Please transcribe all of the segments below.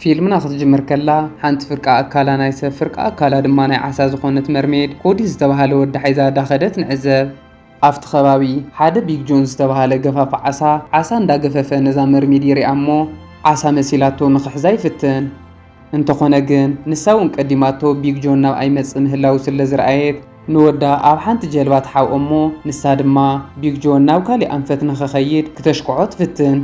ፊልምና ክትጅምር ከላ ሓንቲ ፍርቂ ኣካላ ናይ ሰብ ፍርቂ ኣካላ ድማ ናይ ዓሳ ዝኾነት መርሜድ ኮዲ ዝተባሃለ ወዲ ሓይዛ ዳኸደት ንዕዘብ። ኣብቲ ከባቢ ሓደ ቢግ ጆን ዝተባሃለ ገፋፊ ዓሳ ዓሳ እንዳገፈፈ ነዛ መርሜድ ይሪኣ እሞ ዓሳ መሲላቶ ንኽሕዛ ይፍትን። እንተኾነ ግን ንሳ እውን ቀዲማቶ ቢግ ጆን ናብ ኣይመጽእ ምህላዉ ስለ ዝረኣየት ንወዳ ኣብ ሓንቲ ጀልባ ትሓብኦ እሞ ንሳ ድማ ቢግ ጆን ናብ ካሊእ ኣንፈት ንኸኸይድ ክተሽክዖ ትፍትን።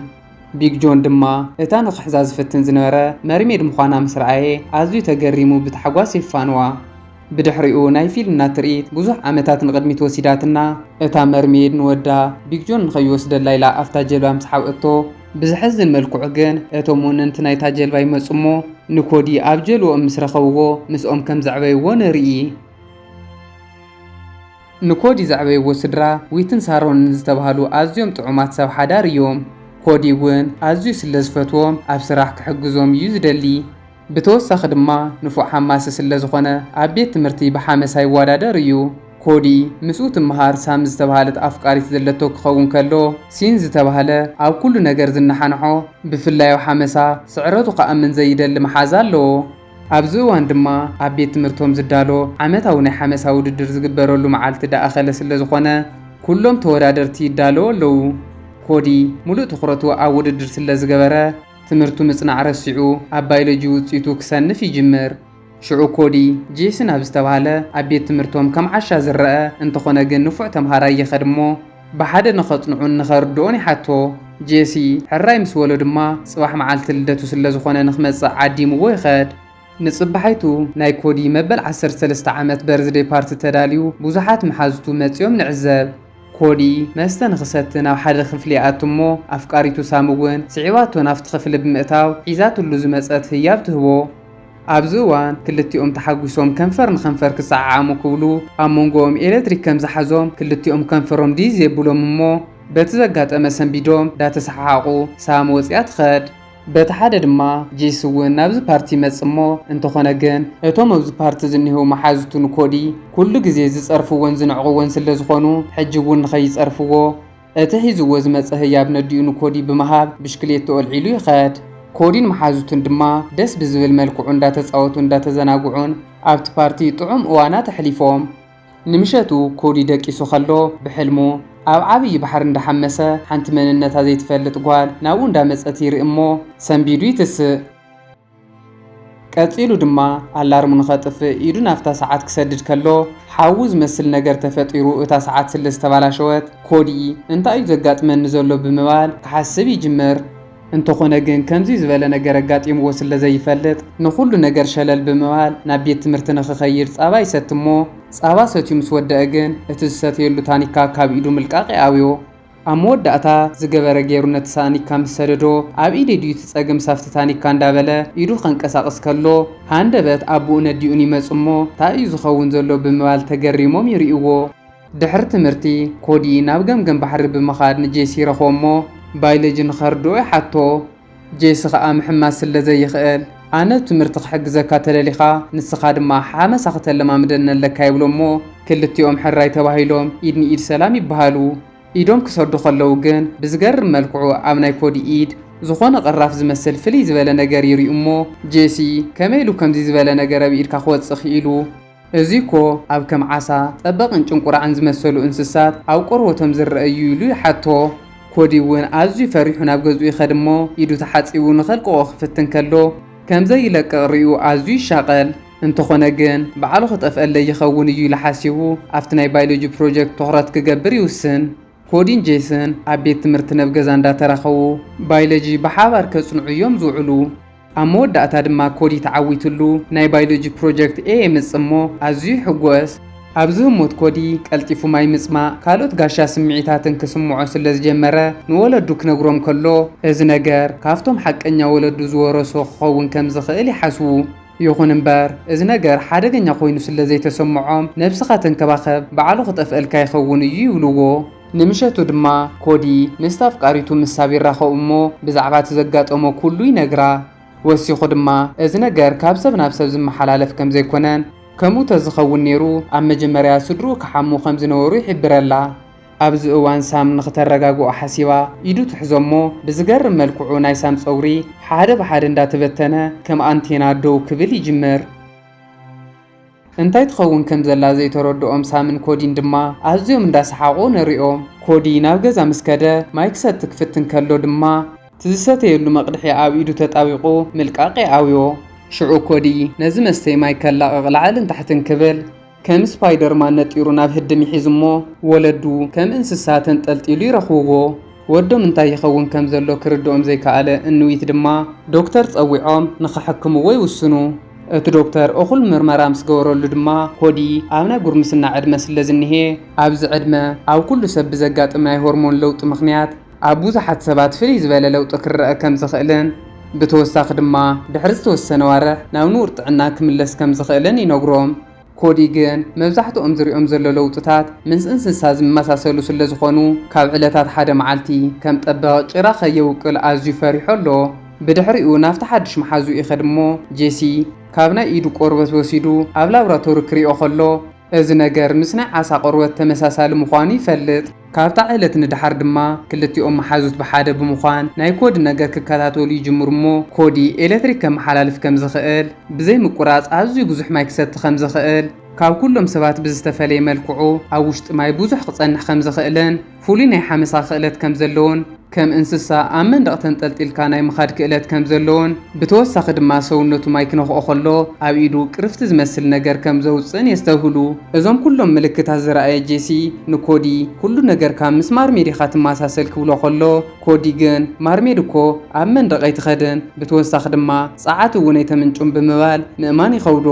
ቢግ ጆን ድማ እታ ንኽሕዛ ዝፍትን ዝነበረ መርሜድ ምዃና ምስ ረኣየ ኣዝዩ ተገሪሙ ብታሕጓስ የፋንዋ። ብድሕሪኡ ናይ ፊልምና ትርኢት ብዙሕ ዓመታት ንቕድሚት ወሲዳትና። እታ መርሜይድ ንወዳ፣ ቢግ ጆን ንኸይወስደላ ኢላ ኣብታ ጀልባ ምስ ሓብአቶ፣ ብዘሕዝን መልክዑ ግን እቶም ወነንቲ ናይታ ጀልባ ይመጹ እሞ ንኮዲ ኣብ ጀልባኦም ምስ ረኸብዎ ምስኦም ከም ዘዕበይዎ ንርኢ። ንኮዲ ዘዕበይዎ ስድራ ዊትን ሳሮንን ዝተባህሉ ኣዝዮም ጥዑማት ሰብ ሓዳር እዮም። ኮዲ እውን ኣዝዩ ስለ ዝፈትዎም ኣብ ስራሕ ክሕግዞም እዩ ዝደሊ። ብተወሳኺ ድማ ንፉዕ ሓማሲ ስለ ዝኾነ ኣብ ቤት ትምህርቲ ብሓመሳ ይወዳደር እዩ። ኮዲ ምስኡ ትመሃር ሳም ዝተብሃለት ኣፍቃሪት ዘለቶ ክኸውን ከሎ፣ ሲን ዝተባህለ ኣብ ኩሉ ነገር ዝነሓንሖ ብፍላይ ኣብ ሓመሳ ስዕረቱ ክኣምን ዘይደሊ መሓዛ ኣለዎ። ኣብዚ እዋን ድማ ኣብ ቤት ትምህርቶም ዝዳሎ ዓመታዊ ናይ ሓመሳ ውድድር ዝግበረሉ መዓልቲ ደኣኸለ ስለ ዝኾነ ኩሎም ተወዳደርቲ ይዳለዉ ኣለዉ። ኮዲ ሙሉእ ትኹረቱ ኣብ ውድድር ስለ ዝገበረ፣ ትምህርቱ ምጽናዕ ረሲዑ ኣብ ባይሎጂ ውጺቱ ክሰንፍ ይጅምር። ሽዑ ኮዲ ጄስን ኣብ ዝተባህለ ኣብ ቤት ትምህርቶም ከም ዓሻ ዝረኣ እንተኾነ ግን ንፉዕ ተምሃራይ ይኸድ እሞ ብሓደ ንኸጽንዑን ንኸርድኦን ይሓቶ። ጄሲ ሕራይ ምስ በሎ ድማ ጽባሕ መዓልቲ ልደቱ ስለዝኾነ ንክመጽእ ዓዲምዎ ይኸድ። ንጽባሒቱ ናይ ኮዲ መበል ዓሰርተ ሰለስተ ዓመት በርዝደይ ፓርቲ ተዳልዩ ብዙሓት መሓዙቱ መጺኦም ንዕዘብ። ኮዲ መስተ ንኽሰቲ ናብ ሓደ ክፍሊ ይኣቱ እሞ ኣፍቃሪቱ ሳም እውን ስዒባቶ ናብቲ ክፍሊ ብምእታው ሒዛትሉ ዝመጸት ህያብ ትህቦ። ኣብዚ እዋን ክልቲኦም ተሓጒሶም ከንፈር ንከንፈር ክሰዓዓሙ ክብሉ ኣብ መንጎኦም ኤለትሪክ ከም ዝሓዞም ክልቲኦም ከንፈሮም ዲዝ የብሎም እሞ በቲ ዘጋጠመ ሰንቢዶም ዳተሰሓሓቑ ሳም ወጺኣ ትኸድ። በቲ ሓደ ድማ ጂስ እውን ናብዚ ፓርቲ ይመጽእ እሞ እንተኾነ ግን እቶም ኣብዚ ፓርቲ ዝኒህው መሓዙቱ ንኮዲ ኩሉ ግዜ ዝጸርፍዎን ዝንዕቕዎን ስለዝኾኑ ሕጂ እውን ንኸይጸርፍዎ እቲ ሒዝዎ ዝመጸ ህያብ ነዲኡ ንኮዲ ብምሃብ ብሽክሌትኡ ኣልዒሉ ይኸድ። ኮዲን መሓዙቱን ድማ ደስ ብዝብል መልክዑ እንዳተጻወቱን እንዳተዘናግዑን ኣብቲ ፓርቲ ጥዑም እዋናት ኣሕሊፎም። ንምሸቱ ኮዲ ደቂሱ ከሎ ብሕልሙ ኣብ ዓብዪ ባሕሪ እንዳሓመሰ ሓንቲ መንነታ ዘይትፈልጥ ጓል ናብኡ እንዳመፀት ይርኢ እሞ ሰንቢዱ ይትስእ። ቀፂሉ ድማ ኣላርሙ ንኸጥፍእ ኢዱ ናፍታ ሰዓት ክሰድድ ከሎ ሓዊ ዝመስል ነገር ተፈጢሩ እታ ሰዓት ስለዝተባላሸወት ኮዲ እንታይ እዩ ዘጋጥመኒ ዘሎ ብምባል ክሓስብ ይጅምር። እንተኾነ ግን ከምዚ ዝበለ ነገር ኣጋጢምዎ ስለ ዘይፈልጥ ንኹሉ ነገር ሸለል ብምባል ናብ ቤት ትምህርቲ ንኽኸይድ ጻባ ይሰቲ እሞ ጻባ ሰትዩ ምስ ወደኣ ግን እቲ ዝሰተየሉ ታኒካ ካብ ኢዱ ምልቃቕ ይኣብዮ። ኣብ መወዳእታ ዝገበረ ገይሩ ነቲ ሳኒካ ምስ ሰደዶ ኣብ ኢደይ ድዩ እቲ ጸገም ሳብቲ ታኒካ እንዳበለ ኢዱ ከንቀሳቕስ ከሎ ሃንደበት ኣቡኡን ኣዲኡን ይመጹ እሞ ታይ እዩ ዝኸውን ዘሎ ብምባል ተገሪሞም ይሪኡዎ። ድሕሪ ትምህርቲ፣ ኮዲ ናብ ገምገም ባሕሪ ብምኻድ ንጄሲ ይረኽቦ'ሞ ባይሎጂ ንኸርድኦ ይሓቶ። ጄሲ ኸኣ ምሕማስ ስለ ዘይኽእል፣ ኣነ ብ ትምህርቲ ክሕግዘካ ተደሊኻ፣ ንስኻ ድማ ሓመሳ ክተለማምደኒ ኣለካ ይብሎ'ሞ ክልቲኦም ሕራይ ተባሂሎም ኢድ ንኢድ ሰላም ይበሃሉ። ኢዶም ክሰዱ ከለዉ ግን ብዝገርም መልክዑ ኣብ ናይ ኮዲ ኢድ ዝኾነ ቅራፍ ዝመስል ፍልይ ዝበለ ነገር ይሪኡ'ሞ ጄሲ ከመይ ኢሉ ከምዚ ዝበለ ነገር ኣብ ኢድካ ክወጽእ ኪኢሉ? እዚ'ኮ ኣብ ከም ዓሳ፣ ጠበቕን ጭንቁራዕን ዝመሰሉ እንስሳት ኣብ ቆርበቶም ዝረኣ እዩ ኢሉ ይሓቶ። ኮዲ'ውን ኣዝዩ ፈሪሑ ናብ ገዝኡ ይኸድ እሞ ኢዱ ተሓጺቡ ንኸልቅቖ ክፍትን ከሎ ከም ዘይለቅቕ ሪኡ ኣዝዩ ይሻቐል። እንተኾነ ግን ባዕሉ ክጠፍኣለይ ይኸውን እዩ ኢሉ ሓሲቡ ኣብቲ ናይ ባይሎጂ ፕሮጀክት ትኹረት ክገብር ይውስን። ኮዲን ጄስን ኣብ ቤት ትምህርቲ ነብ ገዛ እንዳተራኸቡ ባይለጂ ብሓባር ከጽንዑ እዮም ዝውዕሉ። ኣብ መወዳእታ ድማ ኮዲ ተዓዊትሉ ናይ ባይሎጂ ፕሮጀክት ኤ የምጽእ እሞ ኣዝዩ ይሕጎስ። ኣብዚ ህሞት ኮዲ ቀልጢፉ ማይ ምጽማእ ካልኦት ጋሻ ስምዒታትን ክስምዖ ስለ ዝጀመረ ንወለዱ ክነግሮም ከሎ እዚ ነገር ካብቶም ሓቀኛ ወለዱ ዝወረሶ ክኸውን ከም ዝኽእል ይሓስቡ። ይኹን እምበር እዚ ነገር ሓደገኛ ኮይኑ ስለ ዘይተሰምዖም ነብስኻ ተንከባኸብ ባዕሉ ክጠፍእልካ ይኸውን እዩ ይብልዎ። ንምሸቱ ድማ ኮዲ ምስታ ኣፍቃሪቱ ምስ ሳብ ይራኸቡ እሞ ብዛዕባ እቲ ዘጋጠሞ ኩሉ ይነግራ። ወሲኹ ድማ እዚ ነገር ካብ ሰብ ናብ ሰብ ዝመሓላለፍ ከም ዘይኮነን ከምኡ ተዝኸውን ነይሩ ኣብ መጀመርያ ስድርኡ ክሓሙ ከም ዝነበሩ ይሕብረላ። ኣብዚ እዋን ሳም ንክተረጋግኦ ሓሲባ ኢዱ ትሕዞ እሞ ብዝገርም መልክዑ ናይ ሳም ጸጉሪ ሓደ ብሓደ እንዳተበተነ ከም ኣንቴና ደው ክብል ይጅምር። እንታይ ትኸውን ከም ዘላ ዘይተረድኦም ሳምን ኮዲን ድማ ኣዝዮም እንዳ ሰሓቑ ንሪኦም። ኮዲ ናብ ገዛ ምስ ከደ ማይ ክሰቲ ክፍትን ከሎ ድማ እቲ ዝሰተየሉ መቕድሒ ኣብ ኢዱ ተጣቢቑ ምልቃቕ ይኣውዮ። ሽዑ ኮዲ ነዚ መስተዪ ማይ ከላቕቕ ላዕልን ታሕትን ክብል ከም ስፓይደርማን ነጢሩ ናብ ህድም ይሒዝሞ ወለዱ ከም እንስሳ ተንጠልጢሉ ይረኽብዎ። ወዶም እንታይ ይኸውን ከም ዘሎ ክርድኦም ዘይከኣለ እንዊት ድማ፣ ዶክተር ጸዊዖም ንኸሕክምዎ ይውስኑ። እቲ ዶክተር እኹል ምርመራ ምስ ገበረሉ ድማ፣ ኮዲ ኣብ ናይ ጉርምስና ዕድመ ስለ ዝኒሄ፣ ኣብዚ ዕድመ ኣብ ኩሉ ሰብ ብዘጋጥም ናይ ሆርሞን ለውጢ ምኽንያት ኣብ ብዙሓት ሰባት ፍልይ ዝበለ ለውጢ ክረኣ ከም ዝኽእልን ብተወሳኺ ድማ ድሕሪ ዝተወሰነ ኣዋርሕ ናብ ንቡር ጥዕና ክምለስ ከም ዝኽእልን ይነግሮም። ኮዲ ግን መብዛሕትኦም ዝሪኦም ዘሎ ለውጥታት ምስ እንስሳ ዝመሳሰሉ ስለዝኾኑ ካብ ዕለታት ሓደ መዓልቲ ከም ጠበቕ ጭራ ከየውቅል ኣዝዩ ፈሪሑ ኣሎ። ብድሕሪኡ ናብቲ ሓድሽ መሓዝኡ ይኸድ እሞ ጄሲ ካብ ናይ ኢዱ ቆርበት ወሲዱ ኣብ ላብራቶሪ ክሪኦ ከሎ እዚ ነገር ምስ ናይ ዓሳ ቆርበት ተመሳሳሊ ምዃኑ ይፈልጥ። ካብታ ዕለት ንደሓር ድማ ክልቲኦም መሓዙት ብሓደ ብምዃን ናይ ኮዲ ነገር ክከታተሉ ይጅምሩ እሞ ኮዲ ኤለትሪክ ከመሓላልፍ ከም ዝኽእል፣ ብዘይ ምቁራጽ ኣዝዩ ብዙሕ ማይ ክሰቲ ከም ዝኽእል፣ ካብ ኩሎም ሰባት ብዝተፈለየ መልክዑ ኣብ ውሽጢ ማይ ብዙሕ ክጸንሕ ከም ዝኽእልን ፍሉይ ናይ ሓመሳ ክእለት ከም ዘለዎን፣ ከም እንስሳ ኣብ መንደቕ ተንጠልጢልካ ናይ ምኻድ ክእለት ከም ዘለዎን ብተወሳኺ ድማ ሰውነቱ ማይ ክነኽኦ ከሎ ኣብ ኢዱ ቅርፍቲ ዝመስል ነገር ከም ዘውጽእን የስተብህሉ። እዞም ኩሎም ምልክታት ዝረኣየ ጄሲ ንኮዲ፣ ኩሉ ነገር ካብ ምስ ማርሜድ ኢኻ ትመሳሰል ክብሎ ከሎ፣ ኮዲ ግን ማርሜድ እኮ ኣብ መንደቕ ኣይትኸድን፣ ብተወሳኺ ድማ ጸዓት እውን ኣይተምንጩን ብምባል ምእማን ይኸብዶ።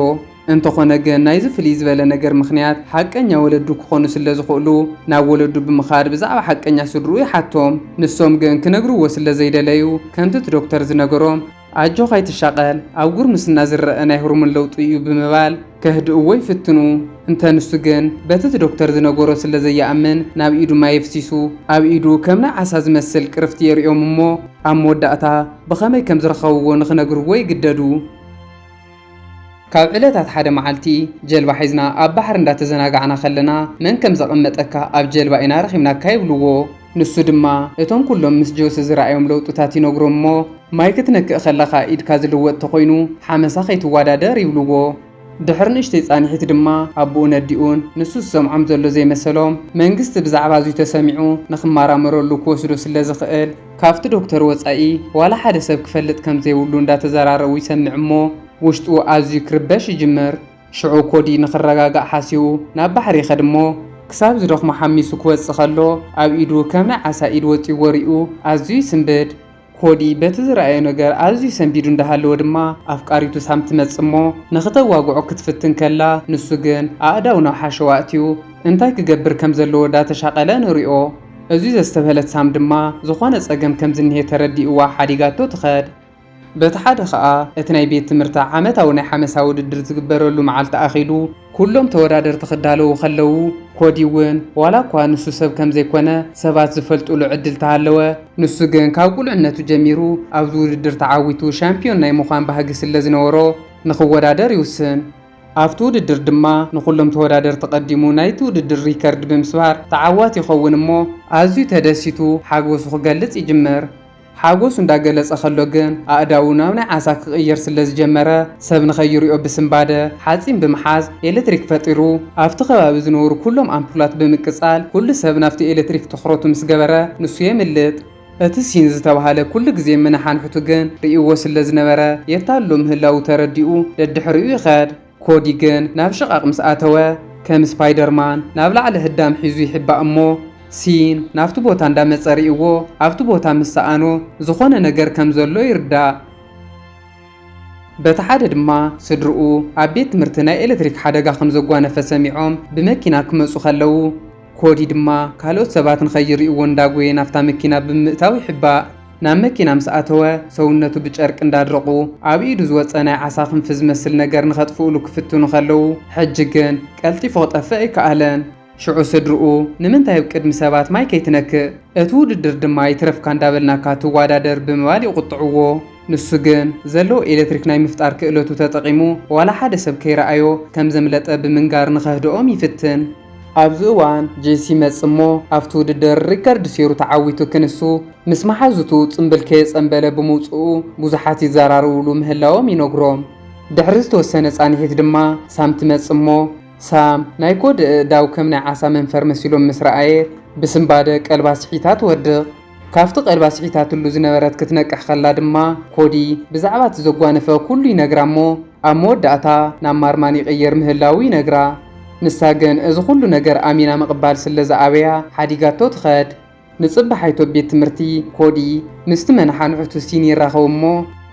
እንተኾነ ግን ናይዚ ፍልይ ዝበለ ነገር ምኽንያት ሓቀኛ ወለዱ ክኾኑ ስለ ዝኽእሉ ናብ ወለዱ ብምኻድ ብዛዕባ ሓቀኛ ስድርኡ ይሓቶም። ንሶም ግን ክነግርዎ ስለ ዘይደለዩ ከምቲ እቲ ዶክተር ዝነገሮም ኣጆኻ ኣይትሻቐል ኣብ ጉርምስና ዝረኣ ናይ ሆርሞን ለውጢ እዩ ብምባል ከህድእዎ ይፍትኑ። እንተ ንሱ ግን በቲ እቲ ዶክተር ዝነገሮ ስለ ዘይኣምን ናብ ኢዱ ማይ የፍሲሱ። ኣብ ኢዱ ከም ናይ ዓሳ ዝመስል ቅርፍቲ የርእዮም እሞ ኣብ መወዳእታ ብኸመይ ከም ዝረኸብዎ ንኽነግርዎ ይግደዱ። ካብ ዕለታት ሓደ መዓልቲ ጀልባ ሒዝና ኣብ ባሕሪ እንዳተዘናጋዕና ከለና መን ከም ዘቐመጠካ ኣብ ጀልባ ኢና ረኺብናካ ይብልዎ። ንሱ ድማ እቶም ኩሎም ምስ ጆሲ ዝረኣዮም ለውጥታት ይነግሮም እሞ ማይ ክትነክእ ከለኻ ኢድካ ዝልወጥ ተኾይኑ ሓመሳ ከይትዋዳደር ይብልዎ። ድሕሪ ንእሽተይ ፃንሒት ድማ ኣቡኡን ኣዲኡን ንሱ ዝሰምዖም ዘሎ ዘይመሰሎም መንግስቲ ብዛዕባ እዙይ ተሰሚዑ ንኽማራመረሉ ክወስዶ ስለዝኽእል፣ ካብቲ ዶክተር ወጻኢ ዋላ ሓደ ሰብ ክፈልጥ ከም ዘይብሉ እንዳተዘራረቡ ይሰምዕ እሞ ውሽጡ ኣዝዩ ክርበሽ ይጅምር። ሽዑ ኮዲ ንኽረጋጋእ ሓሲቡ ናብ ባሕሪ ይኸድ እሞ ክሳብ ዝደኽሞ ሓሚሱ ክወጽእ ከሎ ኣብ ኢዱ ከም ናይ ዓሳ ኢድ ወጺዎ ሪኡ ኣዝዩ ይስንብድ። ኮዲ በቲ ዝረኣዮ ነገር ኣዝዩ ሰንቢዱ እንዳሃለወ ድማ ኣፍቃሪቱ ሳም ትመጽእ እሞ ንኽተዋግዖ ክትፍትን ከላ ንሱ ግን ኣእዳው ናብ ሓሸዋ ኣእትዩ እንታይ ክገብር ከም ዘለዎ ዳተሻቐለ ንሪኦ። እዙይ ዘስተብሀለት ሳም ድማ ዝኾነ ፀገም ከምዝኒሀ ተረዲኡዋ ሓዲጋቶ ትኸድ። በቲ ሓደ ከዓ እቲ ናይ ቤት ትምህርታ ዓመታዊ ናይ ሓመሳ ውድድር ዝግበረሉ መዓልቲ ኣኺሉ ኩሎም ተወዳደርቲ ክዳለዉ ከለዉ ኮዲ እውን ዋላ እኳ ንሱ ሰብ ከምዘይኮነ ሰባት ዝፈልጡሉ ዕድል ተሃለወ ንሱ ግን ካብ ቁልዕነቱ ጀሚሩ ኣብዚ ውድድር ተዓዊቱ ሻምፒዮን ናይ ምዃን ባህጊ ስለዝነበሮ ንኽወዳደር ይውስን። ኣብቲ ውድድር ድማ ንኹሎም ተወዳደርቲ ቀዲሙ ናይቲ ውድድር ሪከርድ ብምስባር ተዓዋቲ ይኸውን እሞ ኣዝዩ ተደሲቱ ሓጎሱ ክገልጽ ይጅምር። ሓጎሱ እንዳገለጸ ከሎ ግን ኣእዳዉ ናብ ናይ ዓሳ ክቕይር ስለ ዝጀመረ ሰብ ንኸይሪኦ ብስንባደ ሓጺን ብምሓዝ ኤለትሪክ ፈጢሩ ኣብቲ ከባቢ ዝነበሩ ኩሎም ኣምፑላት ብምቅጻል ኩሉ ሰብ ናብቲ ኤለትሪክ ትኹረቱ ምስ ገበረ ንሱ የምልጥ። እቲ ሲን ዝተብሃለ ኩሉ ግዜ ምንሓንሕቱ ግን ርእይዎ ስለ ዝነበረ የታልሎ ምህላዉ ተረዲኡ ደድሕሪኡ ይኸድ። ኮዲ ግን ናብ ሽቓቕ ምስ ኣተወ ከም ስፓይደርማን ናብ ላዕሊ ህዳም ሒዙ ይሕባእ እሞ ሲን ናብቲ ቦታ እንዳመጸ ርእይዎ ኣብቲ ቦታ ምስ ሰኣኖ ዝኾነ ነገር ከም ዘሎ ይርዳእ። በቲ ሓደ ድማ ስድርኡ ኣብ ቤት ትምህርቲ ናይ ኤለትሪክ ሓደጋ ከም ዘጓነፈ ሰሚዖም ብመኪና ክመጹ ከለዉ ኮዲ ድማ ካልኦት ሰባት ንኸይርእይዎ እንዳጎየ ናብታ መኪና ብምእታው ይሕባእ። ናብ መኪና ምስ ኣተወ ሰውነቱ ብጨርቂ እንዳድረቑ ኣብ ኢዱ ዝወጸ ናይ ዓሳ ክንፊ ዝመስል ነገር ንኸጥፍእሉ ክፍትኑ ከለዉ ሕጂ ግን ቀልጢፉ ክጠፍእ ኣይከኣለን። ሽዑ ስድርኡ ንምንታይ ኣብ ቅድሚ ሰባት ማይ ከይትነክእ፣ እቲ ውድድር ድማ ይትረፍካ እንዳበልናካ ትዋዳደር ብምባል ይቑጥዕዎ። ንሱ ግን ዘለዎ ኤለትሪክ ናይ ምፍጣር ክእለቱ ተጠቒሙ ዋላ ሓደ ሰብ ከይረኣዮ ከም ዘምለጠ ብምንጋር ንኸህድኦም ይፍትን። ኣብዚ እዋን ጄሲ ይመጽእ እሞ ኣብቲ ውድድር ሪከርድ ሴሩ ተዓዊቱ ክንሱ ምስ መሓዙቱ ጽምብል ከየጸምበለ ብምውጽኡ ብዙሓት ይዘራረብሉ ምህላዎም ይነግሮም። ድሕሪ ዝተወሰነ ጻንሒት ድማ ሳም ትመጽእ እሞ፣ ሳም ናይ ኮድ እእዳው ከም ናይ ዓሳ መንፈር መሲሎም ምስ ረኣየ ብስንባደ ቀልባ ስሒታ ትወድቕ። ካብቲ ቀልባ ስሒታትሉ ዝነበረት ክትነቅሕ ከላ ድማ ኮዲ ብዛዕባ እቲ ዘጓነፈ ኩሉ ይነግራ እሞ ኣብ መወዳእታ ናብ ማርማን ይቕየር ምህላዉ ይነግራ። ንሳ ግን እዚ ኩሉ ነገር ኣሚና ምቕባል ስለ ዝኣበያ ሓዲጋቶ ትኸድ። ንጽባሓይቶ ቤት ትምህርቲ ኮዲ ምስቲ መነሓንሕቱ ሲን ይራኸቡ እሞ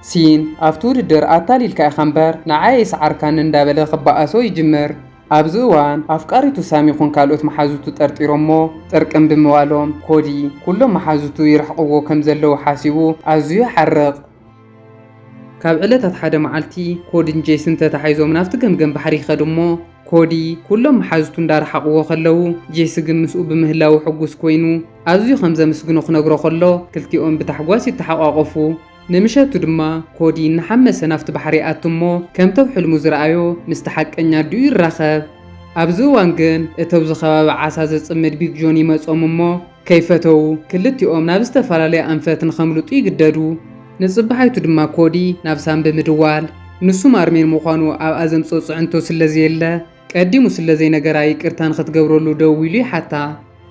ሲን ኣብቲ ውድድር ኣታሊልካ ኢኻ እምበር ንዓይ ኣይሰዓርካንን እንዳበለ ክበኣሶ ይጅምር። ኣብዚ እዋን ኣፍቃሪቱ ሳም ይኹን ካልኦት መሓዙቱ ጠርጢሮሞ ጥርቅም ብምባሎም ኮዲ ኩሎም መሓዙቱ ይርሕቕዎ ከም ዘለዉ ሓሲቡ ኣዝዩ ይሓርቕ። ካብ ዕለታት ሓደ መዓልቲ ኮዲን ጄስን ተታሒዞም ናብቲ ገምገም ባሕሪ ይኸዱ እሞ ኮዲ ኩሎም መሓዙቱ እንዳረሓቕዎ ከለዉ ጄሲ ግን ምስኡ ብምህላዉ ሕጉስ ኮይኑ ኣዝዩ ከም ዘምስግኖ ክነግሮ ከሎ ክልቲኦም ብታሕጓስ ይተሓቋቖፉ። ንምሸቱ ድማ ኮዲ እናሓመሰ ናብቲ ባሕሪ ይኣቱ እሞ ከምተብ ሕልሙ ዝረኣዮ ምስቲ ሓቀኛ ኣዲኡ ይራኸብ። ኣብዚ እዋን ግን እተብዚ ከባቢ ዓሳ ዘጽምድ ቢግ ጆን ይመጾም እሞ ከይፈተዉ ክልቲኦም ናብ ዝተፈላለየ ኣንፈት ንኸምልጡ ይግደዱ። ንጽባሓይቱ ድማ ኮዲ ናብ ሳም ብምድዋል፣ ንሱ ማርሜን ምዃኑ ኣብኣ ዘምጽኦ ጽዕንቶ ስለ ዘየለ፣ ቀዲሙ ስለ ዘይነገራ ይቅርታ ንኽትገብረሉ ደዊሉ ይሓታ።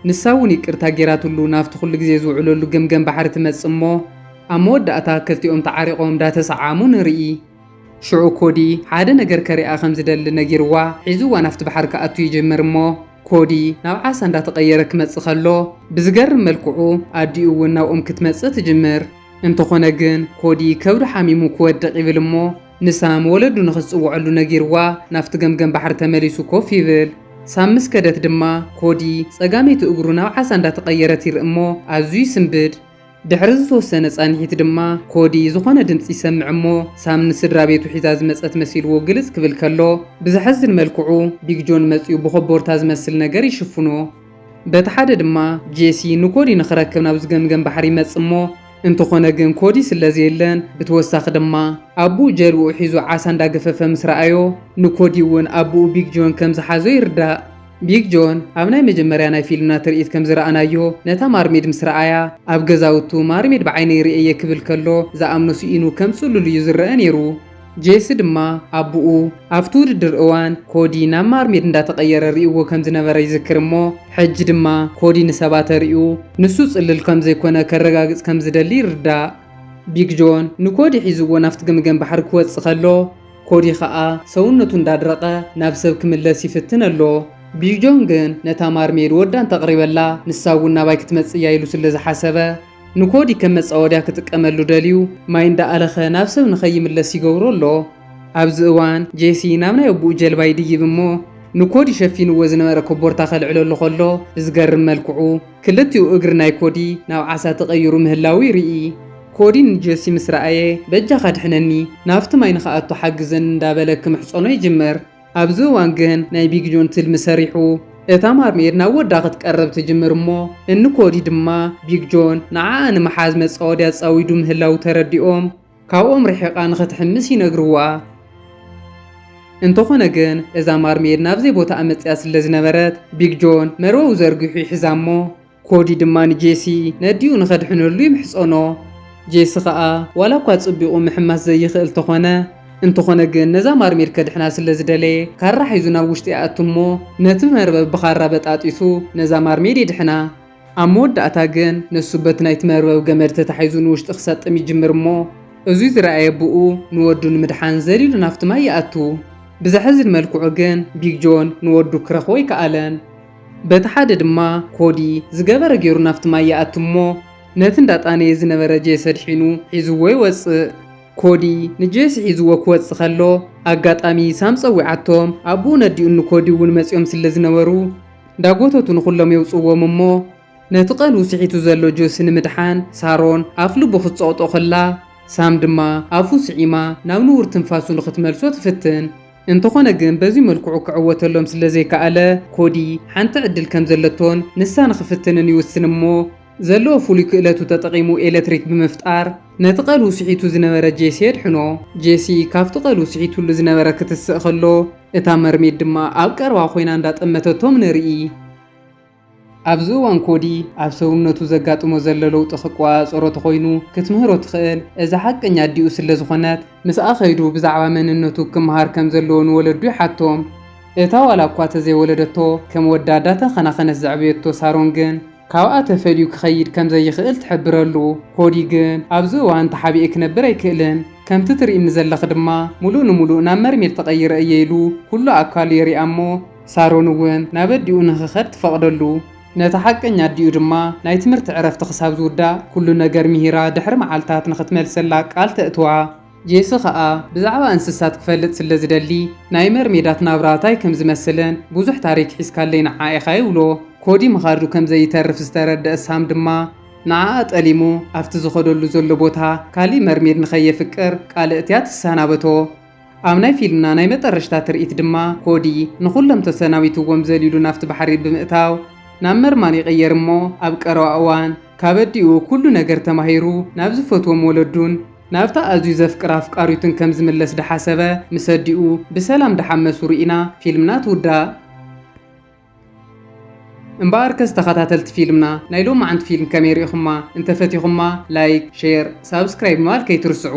ንሳ እውን ይቅርታ ገይራትሉ ናብቲ ኩሉ ግዜ ዝውዕለሉ ገምገም ባሕሪ ትመጽእ'ሞ፣ ኣብ መወዳእታ ክልቲኦም ተዓሪቖም እንዳተሰዓዓሙ ንርኢ። ሽዑ ኮዲ ሓደ ነገር ከሪኣ ከም ዝደሊ ነጊርዋ ሒዝዋ ናፍቲ ባሕሪ ክኣቱ ይጅምር እሞ ኮዲ ናብ ዓሳ እንዳተቐየረ ክመጽእ ከሎ ብዝገርም መልክዑ ኣዲኡ እውን ናብኦም ክትመጽእ ትጅምር። እንተኾነ ግን ኮዲ ከብዱ ሓሚሙ ክወድቕ ይብል እሞ ንሳም ወለዱ ንኽትጽውዐሉ ነጊርዋ ናፍቲ ገምገም ባሕሪ ተመሊሱ ኮፍ ይብል። ሳም ምስ ከደት ድማ ኮዲ ጸጋመይቲ እግሩ ናብ ዓሳ እንዳተቐየረት ይርኢ እሞ ኣዝዩ ይስንብድ። ድሕሪ ዝተወሰነ ፃንሒት ድማ ኮዲ ዝኾነ ድምፂ ይሰምዕ እሞ ሳም ንስድራቤቱ ሒዛ ዝመፀት መሲልዎ ግልፅ ክብል ከሎ ብዘሐዝን መልክዑ ቢግ ጆን መፂኡ ብኾቦርታ ዝመስል ነገር ይሽፍኖ። በቲ ሓደ ድማ ጄሲ ንኮዲ ንኽረክብ ናብ ዝገምገም ባሕሪ ይመፅእ እሞ እንተኾነ ግን ኮዲ ስለዘየለን ብተወሳኺ ድማ ኣቡኡ ጀልብኡ ሒዙ ዓሳ እንዳገፈፈ ምስ ረኣዮ ንኮዲ እውን ኣቡኡ ቢግ ጆን ከምዝሓዞ ይርዳእ። ቢግ ጆን ኣብ ናይ መጀመርያ ናይ ፊልምና ትርኢት ከም ዝረኣናዮ፣ ነታ ማርሜድ ምስ ረኣያ፣ ኣብ ገዛውቱ ማርሜድ ብዓይነይ ርእየ'የ ክብል ከሎ ዝኣምኖ ስኢኑ ከም ጽሉል እዩ ዝረኣ ነይሩ። ጄሲ ድማ ኣቡኡ ኣብቲ ውድድር እዋን ኮዲ ናብ ማርሜድ እንዳተቐየረ ርእይዎ ከም ዝነበረ ይዝክር እሞ ሕጂ ድማ ኮዲ ንሰባት ኣርእዩ ንሱ ጽልል ከም ዘይኮነ ከረጋግጽ ከም ዝደሊ ይርዳእ። ቢግ ጆን ንኮዲ ሒዝዎ ናብቲ ገምገም ባሕሪ ክወጽእ ከሎ፣ ኮዲ ኸኣ ሰውነቱ እንዳድረቐ ናብ ሰብ ክምለስ ይፍትን ኣሎ። ቢዩጆን ግን ነታ ማርሜይድ ወዳ እንተቕሪበላ ንሳ እውን ናባይ ክትመጽእ እያ ኢሉ ስለ ዝሓሰበ ንኮዲ ከም መጻወድያ ክጥቀመሉ ደልዩ ማይ እንዳኣለኸ ናብ ሰብ ንኸይምለስ ይገብሮ ኣሎ። ኣብዚ እዋን ጄሲ ናብ ናይ ኣቡኡ ጀልባ ይድይብ እሞ ንኮዲ ሸፊንዎ ዝነበረ ኮቦርታ ከልዕለሉ ከሎ ብዝገርም መልክዑ ክልቲኡ እግሪ ናይ ኮዲ ናብ ዓሳ ተቐይሩ ምህላዉ ይርኢ። ኮዲ ንጆሲ ምስ ረኣየ በጃኻ ኣድሕነኒ ናብቲ ማይ ንኽኣቱ ሓግዘኒ እንዳበለ ክምሕጸኖ ይጅምር። ኣብዚ እዋን ግን ናይ ቢግ ጆን ትልሚ ሰሪሑ እታ ማርሜድ ናብ ወዳ ክትቀርብ ትጅምር እሞ እኒ ኮዲ ድማ ቢግ ጆን ንዓኣ ንምሓዝ መጻወዲ ኣጻዊዱ ምህላዉ ተረዲኦም ካብኦም ርሒቓ ንኽትሕምስ ይነግርዋ። እንተኾነ ግን እዛ ማርሜድ ናብ ዘይቦታኣ መጺኣ ስለዝነበረት ቢግ ጆን መርበቡ ዘርጊሑ ይሕዛ እሞ ኮዲ ድማ ንጄሲ ነዲኡ ንኸድሕነሉ ይምሕጸኖ። ጄሲ ኸኣ ዋላ እኳ ጽቢቑ ምሕማስ ዘይኽእል ተኾነ፣ እንተኾነ ግን ነዛ ማርሜድ ከድሕና ስለ ዝደለየ ካራ ሒዙ ናብ ውሽጢ ይኣቱ እሞ ነቲ መርበብ ብኻራ በጣጢሱ ነዛ ማርሜድ የድሕና። ኣብ መወዳእታ ግን ንሱ በቲ ናይቲ መርበብ ገመድ ተታሒዙ ንውሽጢ ክሰጥም ይጅምር እሞ እዙይ ዝረኣየ ኣቡኡ ንወዱ ንምድሓን ዘሊሉ ናብቲ ማይ ይኣቱ። ብዘሕዝን መልክዑ ግን ቢግ ጆን ንወዱ ክረኽቦ ኣይከኣለን። በቲ ሓደ ድማ ኮዲ ዝገበረ ጌሩ ናብቲ ማይ ይኣቲ እሞ ነቲ እንዳጣነየ ዝነበረ ጄሲ ኣድሒኑ ሒዝዎ ይወጽእ። ኮዲ ንጄሲ ሒዝዎ ክወጽእ ከሎ ኣጋጣሚ ሳም ጸዊዓቶም ኣቡኡን ኣዲኡን ንኮዲ እውን መጺኦም ስለ ዝነበሩ እንዳጎተቱ ንኹሎም የውጽዎም እሞ ነቲ ቀልቡ ስሒቱ ዘሎ ጆሲ ንምድሓን ሳሮን ኣፍልቡ ክትጸቕጦ ከላ ሳም ድማ ኣፉ ስዒማ ናብ ንቡር ትንፋሱ ንኽትመልሶ ትፍትን። እንተኾነ ግን በዚ መልክዑ ክዕወተሎም ስለዘይከኣለ፣ ኮዲ ሓንቲ ዕድል ከምዘለቶን ንሳ ንኽፍትንን ይውስን እሞ፣ ዘለዎ ፍሉይ ክእለቱ ተጠቒሙ ኤለትሪክ ብምፍጣር ነቲ ቀልዉ ስሒቱ ዝነበረ ጄሲ የድሕኖ። ጄሲ ካብቲ ቀልዉ ስሒትሉ ዝነበረ ክትስእ ከሎ፣ እታ መርሜድ ድማ ኣብ ቀረባ ኮይና እንዳጠመተቶም ንርኢ። ኣብዚ እዋን ኮዲ ኣብ ሰውነቱ ዘጋጥሞ ዘሎ ለውጢ ክቆጻጸሮ ተኾይኑ ክትምህሮ ትኽእል እዛ ሓቀኛ ኣዲኡ ስለ ዝኾነት። ምስኣ ከይዱ ብዛዕባ መንነቱ ክመሃር ከም ዘለዎ ንወለዱ ይሓቶም። እታ ዋላ እኳ ተዘይወለደቶ ከም ወዳ ዳተኸናኸነት ዘዕበየቶ ሳሮን ግን ካብኣ ተፈልዩ ክኸይድ ከም ዘይኽእል ትሕብረሉ። ኮዲ ግን ኣብዚ እዋን ተሓቢኤ ክነብር ኣይክእልን ከምቲ ትርእይኒ ዘለኺ ድማ ምሉእ ንምሉእ ናብ መርሜድ ተቐይረ እየ ኢሉ ኩሉ ኣካሉ የሪኣ እሞ ሳሮን እውን ናብ ኣዲኡ ንኽኸድ ትፈቕደሉ። ነታ ሓቀኛ ኣዲኡ ድማ ናይ ትምህርቲ ዕረፍቲ ክሳብ ዝውዳእ ኩሉ ነገር ምሂራ ድሕሪ መዓልታት ንኽትመልሰላ ቃል ተእትዋ። ጄሲ ኸኣ ብዛዕባ እንስሳት ክፈልጥ ስለ ዝደሊ ናይ መርሜዳት ናብራ ታይ ከም ዝመስልን ብዙሕ ታሪክ ሒዝካለይ ንዓ ኢኻ ይብሎ። ኮዲ ምኻዱ ከም ዘይተርፍ ዝተረደኣ ሳም ድማ ንዓኣ ጠሊሙ ኣብቲ ዝኸደሉ ዘሎ ቦታ ካሊእ መርሜድ ንኸየፍቅር ቃል እእትያ ትሰናበቶ። ኣብ ናይ ፊልምና ናይ መጠረሽታ ትርኢት ድማ ኮዲ ንኹሎም ተሰናቢትዎም ዘሊሉ ናብቲ ባሕሪ ብምእታው ናብ መርማን ይቕየር እሞ ኣብ ቀረባ እዋን ካብ ኣዲኡ ኩሉ ነገር ተማሂሩ ናብ ዝፈትዎም ወለዱን ናብታ ኣዝዩ ዘፍቅራ ኣፍቃሪቱን ከም ዝምለስ ዳሓሰበ ምስ ኣዲኡ ብሰላም ዳሓመሱ ሪኢና ፊልምና ትውዳእ። እምበኣርከስ ተኸታተልቲ ፊልምና ናይ ሎማዓንቲ ፊልም ከመይ ሪኢኹማ? እንተፈቲኹማ ላይክ፣ ሼር፣ ሳብስክራይብ ምባል ከይትርስዑ።